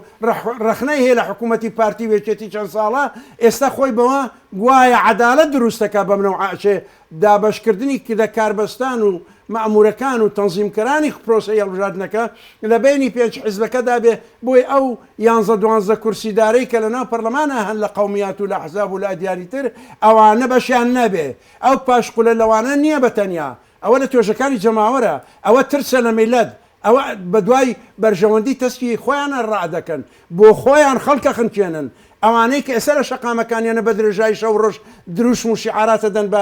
B: ڕەخنەی هەیە لە حکوومەتی پارتی وێچێتی چەند ساڵە ئێستا خۆی بەوە گوایە عەدالەت دروستەکە بەم نەوعە ئەچێ دابەشکردنی کردە کاربەستان و مەئموورەکان و تەنزیمکەرانی پرۆسەی هەڵبژاردنەکە لە بەینی پێنج حیزبەکەدا بێ بۆی ئەو یانزە دوانزە کورسیدارەی کە لەناو پەرلەمانا هەن لە قەومیات و لە ئەحزاب و لە ئەدیانی تر، ئەوانە بەشیان نەبێ. ئەو پاشقولە لەوانە نییە بە تەنیا. ئەوە لە توێژەکانی جەماوەرە. ئەوە ترسە لە میللەت. ئەوە بە دوای بەرژەوەندی تەسکی خۆیانا ڕا دەکەن. بۆ خۆیان خەڵک ئەخنکێنن. ئەوانەی کە ئێستا لە شەقامەکانیانە بە درێژایی شەو و ڕۆژ دروشم و شیعارات ئەدەن بە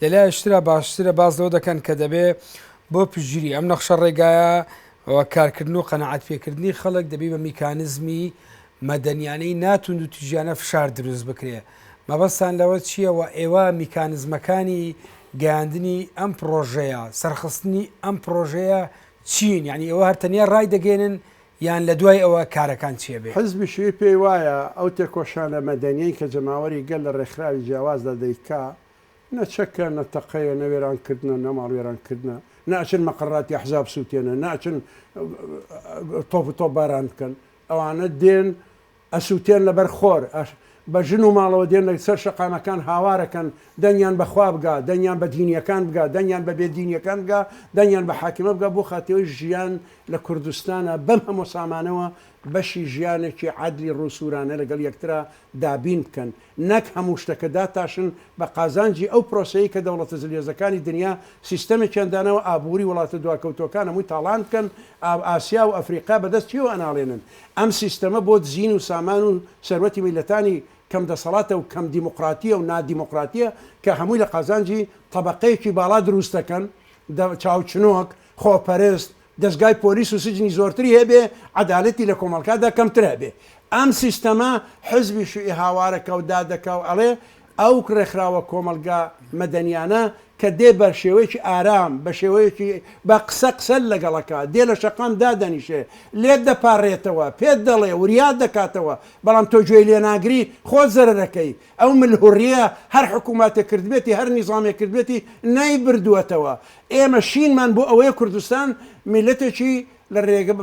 A: لە لایەکترا باشترە باس لەوە دەکەن کە دەبێ بۆ پشتگیری ئەم نەخشە ڕێگایە و کارکردن و قەناعەت پێکردنی خەڵک دەبی بە میکانزمی مەدەنیانەی نا توندوتیژیانە فشار دروست بکرێ مەبەستان لەوە چییە و ئێوە میکانزمەکانی گەیاندنی ئەم پڕۆژەیە سەرخستنی ئەم پڕۆژەیە چین یعنی ئێوە هەر تەنیا ڕای دەگەێنن یان لە دوای ئەوە کارەکان چێ بێ؟ حزبی شیوعی پێی وایە
B: ئەو تێکۆشانە مەدەنیەی کە جەماوەری گەل لە ڕێکخراوی جیاوازدا دەیکا نە چەکە نە تەقەیە نە وێران کردنە نە ماڵ وێران کردنە نە ئەچن مەقەڕاتی ئەحزاب سوتێنن نە ئەچن تۆپ و تۆپ باران بکەن ئەوانە دێن ئەسوتێن لە بەر خۆر بە ژن و ماڵەوە دێن لە سەر شەقامەکان هاوار ئەکەن دەنگیان بە خوا بگا دەنگیان بە دینیەکان بگا دەنگیان بە بێ دینیەکان بگا دەنگیان بە حاکمە بگا بۆ خاتەوەی ژیان لە کوردستانا بەم هەموو سامانەوە بەشی ژیانێکی عەدلی ڕوو سورانە لەگەڵ یەکترا دابین بکەن، نەک هەموو شتەکە داتاشن بە قازانجی ئەو پرۆسەیەی کە دەوڵەتە زلهێزەکانی دنیا سیستەمێکیان داناوە ئابووری وڵاتە دواکەوتووەکان هەمووی تاڵان بکەن، ئاسیا و ئەفریقا بەدەست کێوە ئەناڵێنن؟ ئەم سیستەمە بۆ دزین و سامان و سەروەتی میللەتانی کەم دەسەڵاتە و کەم دیموقراتییە و نادیموقراتییە کە هەمووی لە قازانجی تەبەقەیەکی باڵا دروست دەکەن چاوچنۆک، خۆپەرست، دەزگای پۆلیس و سجنی زۆرتری هەبێ عەدالەتی لە کۆمەڵکادا کەمتر هەبێ ئەم سیستەمە حزبی شوی هاوارە کەو دادەکاو ئەڵێ ئەو ڕێکخراوە کۆمەڵگا مەدەنیانە کە دێ بە شێوەیەکی ئارام بە شێوەیەکی بە قسە قسەل لەگەڵەکا دێ لە شەقام دادەنیشێ لێت دەپاڕێتەوە پێت دەڵێ وریا دەکاتەوە بەڵام تۆ گوێی لێ ناگری خۆت زەرەرەکەی ئەو ملهوڕیە هەر حکوماتێک کردبێتی هەر نیزامێک کردبێتی نەی بردوەتەوە ئێمە شینمان بۆ ئەوەیە کوردستان میلەتێکی لە رێگە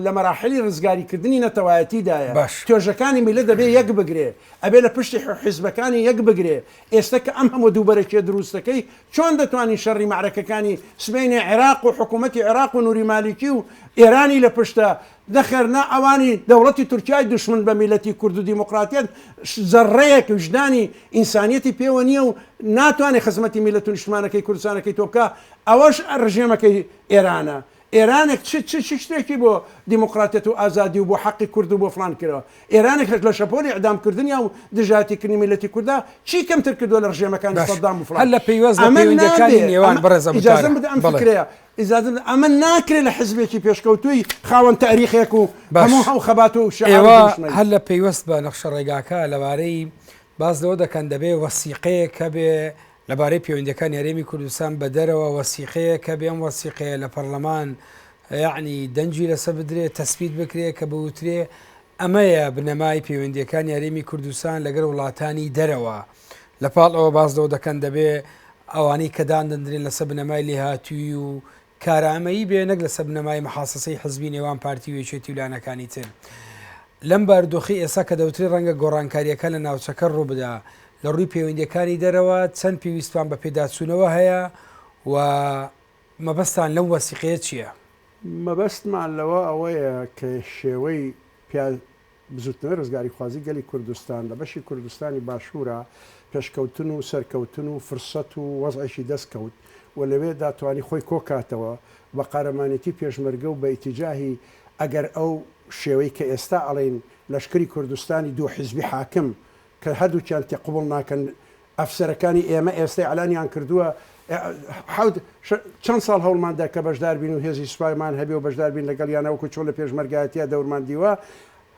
B: لە مەراحلی رزگاری کردنی نەتەوایەتی دایە باش توێژەکانی میلە دەبێ یەک بگرێ ئەبێ لە پشتی حیزبەکانی یەک بگرێ ئێستە کە ئەم هەموو دووبەرەکیە دروستەکەی چۆن دەتوانین شەڕی مەعرەکەکانی سبەینێ عێراق و حکوومەتی عێراق و نووری مالیکی و ئێرانی لە پشتە نەخێر نا ئەوانی دەوڵەتی تورکیای دوشمن بە میلەتی کورد و دیموقراتیەت زەڕەیەک ویژدانی ئینسانیەتی پێوە نیە و ناتوانێ خزمەتی میلەت و نیشتمانەکەی کوردستانەکەی تۆ بکا ئەوەش ڕژێمەکەی ئێرانە ئێرانێک چ چ چ شتێکی بۆ دیموقراتیەت و ئازادی و بۆ حەقی کورد و بۆ فڵان کردوە ئێرانێک لە شەپۆلی ئیعدام کردنیا و دژایەتی کردنی میلەتی کوردا چی کەمتر کردوە لە ڕژێمەکانی باشە سەدام و هەر فڵان لە پەیوەست بە ئەمە
A: پەیوەندیەکانی نابێ نێوان ئەمە بەڕێزە ئیجازەم متارە بدە ئەم بەڵێ فکرەیە
B: ئیجازە بدە، ئەمە ناکرێت لە حزبێکی پێشکەوتووی خاوەن تاریخێک و هەموو باش. ئەو خەبات و شیعار و ئێوە دروشمەی. هەر لە
A: پەیوەست بە نەخشە ڕێگاکە لەبارەی باس لەوە دەکەن دەبێ وەسیقەیەک هەبێ لەبارەی پێوەندییەکانی هەرێمی کوردستان بە دەرەوە، وەسیقەیەک هەبێ ئەم وەسیقەیە لە پەڕلەمان یەعنی دەنگی لەسەر بدرێ، تەسبیت بکرێ کە بوترێ ئەمەیە بنەمای پێوەندییەکانی هەرێمی کوردستان لەگەڵ وڵاتانی دەرەوە. لە پاڵ ئەوە باس لەوە دەکەن دەبێ ئەوانەی کە داندندرێن لەسەر بنەمای لێهاتووی و کارامەیی بێ نەک لەسەر بنەمای محاسەسەی حزبی نێوان پارتی وێچێتی ولانەکانی تر. لەم بارودۆخی ئێستا کە دەوتری ڕەنگە گۆڕانکاریەکە لە ناوچەکە ڕووبدا لە ڕووی پەیوەندیەکانی دەرەوە چەند پێویستمان بە پێداچوونەوە هەیە و مەبەستان لەو وەسیقەیە چییە؟ مەبەستمان
B: لەوە ئەوەیە کە شێوەی بزوتنەوەی ڕزگاریخوازی گەلی کوردستان لە بەشی کوردستانی باشورا پێشکەوتن و سەرکەوتن و فرسەت و وەزعێکی دەست کەوت و لەوێدا توانی خۆی کۆکاتەوە و بە قارەمانێتی پێشمەرگە و بە ئیتیجاهی ئەگەر ئەو شێوەی کە ئێستا ئەڵێین لەشکری کوردستانی دوو حیزبی حاکم کە هەردووکیان تێ قبوڵ ناکەن ئەفسەرەکانی ئێمە ئێستە ئیعلانیان کردووە حەوت چەند ساڵ هەوڵمان دا کە بەشدار بین و هێزی سوپایمان هەبێ و بەشدار بین لەگەڵیانە وەکو چۆن لە پێشمەرگایەتیە دەورمان دیوە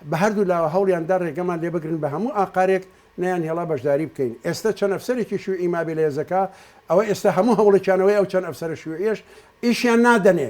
B: بە هەردوو لاوە هەوڵیان دا ڕێگەمان لێ بگرن بە هەموو ئاقارێک نەیانهێڵا بەشداری بکەین ئێستە چەند ئەفسەرێکی شیوعی مابێ لە هێزەکە ئەوە ئێستە هەموو هەوڵێکیان ئەوەیە ئەو چەند ئەفسەرە شیوعیەش ئیشیان نادەنێ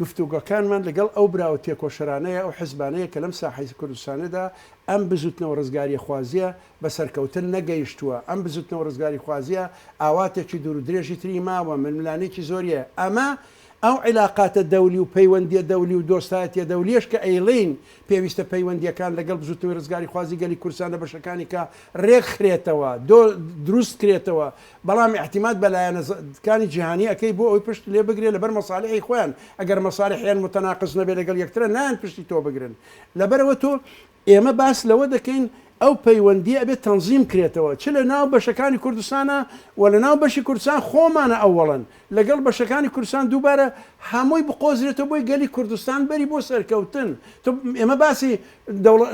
B: گفتوگۆکانمان لەگەڵ ئەو برا و تێکۆشەرانەیە، ئەو حزبانەیە کە لەم ساحەی کوردستانەدا ئەم بزوتنەوە ڕزگاریخوازیە بە سەرکەوتن نەگەیشتووە، ئەم بزوتنەوە ڕزگاریخوازیە ئاواتێکی دوور و درێژی تری ماوە، ململانێکی زۆریە، ئەمە ئەو عیلاقاتە دەولی و پەیوەندیە دەولی و دۆستایەتیە دەولیەش کە ئەیڵێین پێویستە پەیوەندیەکان لەگەڵ بزوتنەوەی ڕزگاریخوازی گەلی کوردستان لە بەشەکانیکا ڕێکخرێتەوە، دروستکرێتەوە، بەڵام ئیعتیماد بە لایەنە زە کانی جیهانی ئەکەی بۆ ئەوەی پشت لێ بگرێ لەبەر مەسالحی خۆیان ئەگەر مەسالحیان موتەناقز نەبێ لەگەڵ یەکترە نایەن پشتی تۆ بگرن لەبەرئەوە تۆ ئێمە باس لەوە دەکەین ئەو پەیوەندیە ئەبێ تەنزیم کرێتەوە چ لە ناو بەشەکانی کوردستانا و لە ناو بەشی کوردستان خۆمانە ئەوەڵەن لەگەڵ بەشەکانی کوردستان دووبارە هەمووی بقۆزرێتەوە بۆی گەلی کوردستان بەری بۆ سەرکەوتن تۆ ئێمە باسی دەوڵە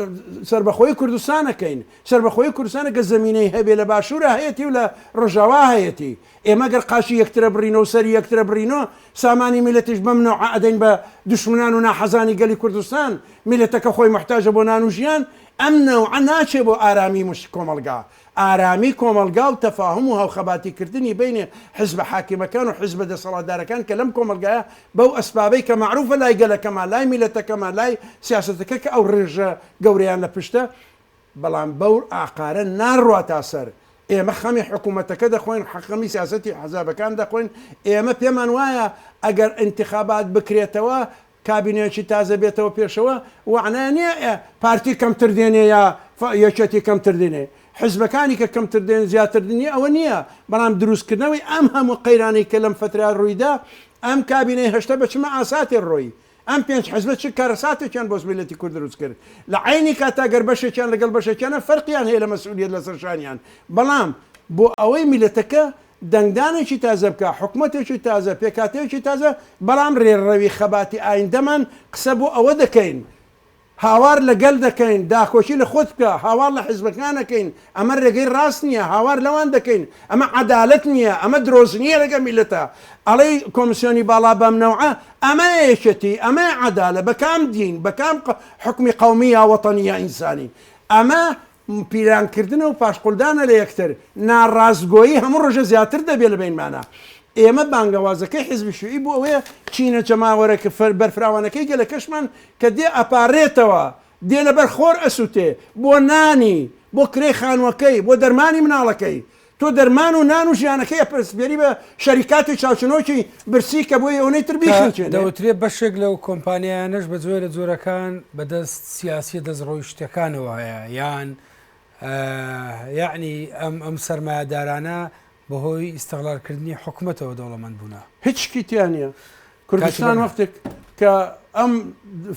B: سەربەخۆی کوردستان ئەکەین سەربەخۆیی کوردستان گەر زەمینەی هەبێ لە باشوورا هەیەتی و لە ڕۆژاوا هەیەتی، ئێمە گەر قاچی یەکترە بڕین و سەری یەکترە بڕین و سامانی میللەتیش بەم نەوعە ئەدەین بە دوشمنان و ناحەزانی گەلی کوردستان، میللەتەکە خۆی موحتاجە بۆ نان و ژیان، ئەم نەوعە ناچێ بۆ ئارامی موش کۆمەڵگا، ئارامی کۆمەڵگا و تەفاهوم و هاوخەباتی کردنی بەینێ حیزبە حاکمەکان و حیزبە دەسەڵاتدارەکان کە لەم کۆمەڵگایە بەو ئەسبابەی کە مەعروفە لای گەلەکەمان، لای میللەتەکەمان، لای سیاسەتەکە کە ئەو ڕێژە گەورەیان لە پشتە، بەڵام بەو ئاقارە ناڕواتە سەر، ئێمە خەمی حکومەتەکە دەخۆین، خەمی سیاسەتی حزابەکان دەخۆین، ئێمە پێمان وایە ئەگەر ئینتخابات بکرێتەوە کابینەیەکی تازە بێتەوە پێشەوە وەعنای نیە پارتی کەمتر دێنێ یا یەکێتی کەمتر دێنێ، حزبەکانی کە کەمتر دێن زیاتر دێنێ ئەوە نیە، بەڵام دروست کردنەوەی ئەم هەموو قەیرانەی کە لەم فەترە رویدا ئەم کابینەی هەشتە بە چ مەئاساتێ رۆیی، ئەم پێنج حزبە چ کارەساتێکیان بۆ میللەتی کورد دروست کرد، لە عەینی کاتدا گەر بەشێکیان لەگەڵ بەشێکیانە فەرقیان هەیە لە مەسئولیەت لەسەر شانیان، بەڵام بۆ ئەوەی میللەتەکە دەنگدانێکی تازە بکا، حکومەتێکی تازە، پێکهاتەیەکی تازە، بەڵام رێڕەوی خەباتی ئایندەمان قسە بۆ ئەوە دەکەین، هاوار لە گەل دەکەین داکۆکی لە خۆت بکە، هاوار لە حیزبەکان ئەکەین ئەمە رێگەی راست نیە، هاوار لەوان دەکەین ئەمە عەدالەت نیە، ئەمە درۆزنیە لەگەل میللەتا، ئەڵێی کۆمسیۆنی باڵا بەم نەوعە، ئەمەیە یەکێتی، ئەمەیە عەدالە، بە کام دین، بە کام حوکمی قەومی یا وەتەنی یا ئینسانی، ئەمە پیرانکردنە و پاشقولدانە لە یەکتر، ناڕاستگۆیی هەموو ڕۆژە زیاتر دەبێ لە بەینمانە. ئێمە بانگەوازەکەی حیزبی شیوعی بۆ ئەوەیە چینە جەماوەرەکە بەرفراوانەکەی گەلەکەشمان کە دێ ئەپاڕێتەوە، دێ لەبەر خۆر ئەسوتێ، بۆ نانی، بۆ کرێی خانوەکەی، بۆ دەرمانی مناڵەکەی، تۆ دەرمان و نان و ژیانەکەی ئەپسپێری بە شەریکاتی چاوچنۆکی برسی کە بۆی ئەوەی تر بیخنچێت دەوترێت بەشێک لەو
A: کۆمپانیایانەش بە جۆرە جۆرەکان بەدەست سیاسی دەست ڕۆی شتەکانەوە هەیە یان یعنی ئەم ئەم سەرمایهدارانە بەهۆی ئیسەغلارکردنی حکوومەتەوە دەوڵەمەند بوونا هیچکیتیانە.
B: کوردستان وەختێک کە ئەم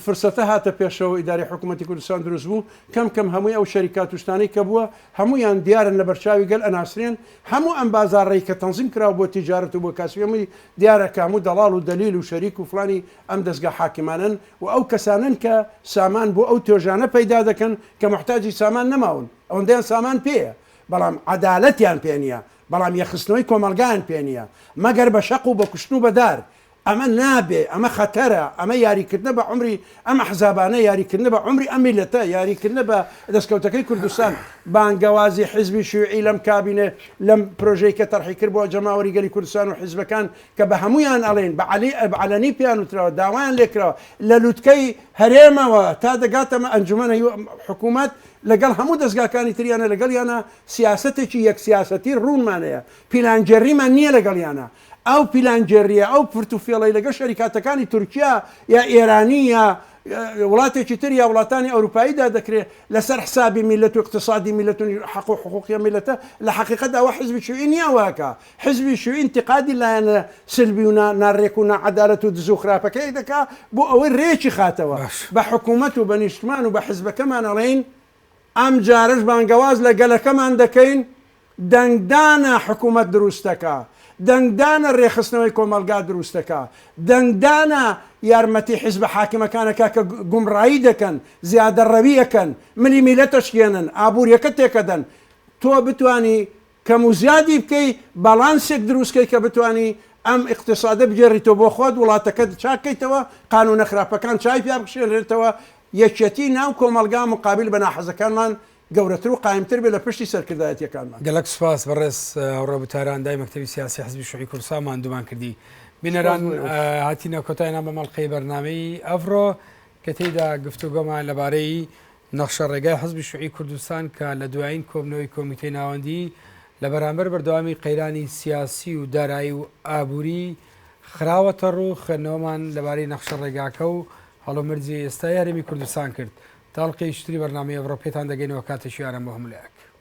B: فرسەتە هاتە پێشەوە ئیدارەی حکوومەتی کوردستان دروست بوو کەم کەم هەمووی ئەو شەریکات توشتانی کە بووە هەمویان دیارن لە بەرچاوی گەل ئەناسرێن هەموو ئەم بازاڕی کە تەنزیم کراوە بۆ تیجارەت و بۆ کاسبیەمەی دیارە کاموو دەڵاڵ و دەلیل و شەریک و فلانی ئەم دەستگا حاکمانن و ئەو کەسانن کە سامان بۆ ئەو تۆژانە پەیدا دەکەن کە محتاجی سامان نەماون ئەوەندەیان سامان پێیە بەڵام عەدالەتیان پێ نییە بەڵام یەکخستنەوەی کۆمەڵگایان پێ نییە مەگەر بە شەق و بە کوشتن و بە دار. ئەمە نابێ، ئەمە خەتەرە، ئەمە یاریکردنە بە عومری ئەم ئەحزابانە، یاریکردنە بە عومری ئەم میللەتە، یاریکردنە بە دەستکەوتەکەی کوردستان. بانگەوازی حیزبی شیوعی لەم کابینەی، لەم پرۆژەی کە تەرحی کرد بۆ جەماوەری گەلی کوردستان و حیزبەکان کە بە هەموویان ئەڵێین، بە عەلەنی پێیان وتراوە، داوایان لێ کراوە لە لوتکەی هەرێمەوە تا دەگاتە ئەنجومەن، حکوومەت لەگەڵ هەموو دەزگاکانی تریانە لەگەڵیانە، سیاسەتێکی یەک سیاسەتی ڕوونمان هەیە، پیلانگێڕیمان نییە لەگەڵیانا، ئەو پیلانگێڕییە ئەو فرت و فێڵەی لەگەڵ شەریکاتەکانی تورکیا یا ئێرانی یا وڵاتێکی تر یا وڵاتانی ئەوروپاییدا دەکرێت لەسەر حسابی میلەت و اقتصادی میلەت و حەق و حقوقی میلەتە لە حەقیقەت ئەوە حزبی شویی نییە وەهەکا حزبی شویی انتقادی لایەنە سلبی و ناڕێک و ناعەدالەت و دزو خراپەکەی دەکا بۆ ئەوەی رێکی خاتەوە بە حکومەت و بە نیشتمان و بە حزبەکەمان ئەڵێین ئەم جارەش بانگەواز لە گەلەکەمان دەکەین دەنگدانە حکوومەت درووستەکە، دەنگدانە رێکخستنەوەی کۆمەڵگا درووستەکە، دەنگدانە یارمەتی حیزبە حاکمەکانەکە کە گومڕایی دەکەن، زیادەڕەوی ئەکەن، ملی میلەت ئەشکێنن، ئابوورییەکە تێکەدەن، تۆ بتوانی کەم و زیادی بکەی باڵانسێک دروست کەی کە بتوانی ئەم ئیقتیسادە بگێڕیتەوە بۆ خۆت وڵاتەکەت چاک کەیتەوە قانونە خراپەکان چای پیا بخشێنرێتەوە یەکیەتی ناو کۆمەڵگا مقابل بە ناحەزەکانمان گەورەتر و قایمتر بێت لە پشتی سەرکردایەتیەکانمان. گەلەک سوپاس بەڕێز
A: هاوڕێبوو تاران دای مەکتەبی سیاسی حزبی شوعی کوردستان ماندوومان کردی بینەران هاتینە کۆتای نام بە مەڵقەی بەرنمەی ئەڤڕۆ کە تێیدا گفتوگۆمان لەبارەی نەخشە ڕێگای حزبی شوعی کوردستان کە لە دوایین کۆبنەوەی کۆمیتەی ناوەندیی لە بەرامبەر بەردەوامی قەیرانی سیاسی و دارایی و ئابووری خراوەتە ڕوو، خوێندنەوەمان لەبارەی نەخشە ڕێگاکە و هەڵومەرجی ئێستای هەرێمی کوردستان کرد. تا ئەڵقەی شتری بەرنامەی ئەڤڕۆ پێتان دەگەینەوە کاتێکی ئارام بۆ هەموو لایەک.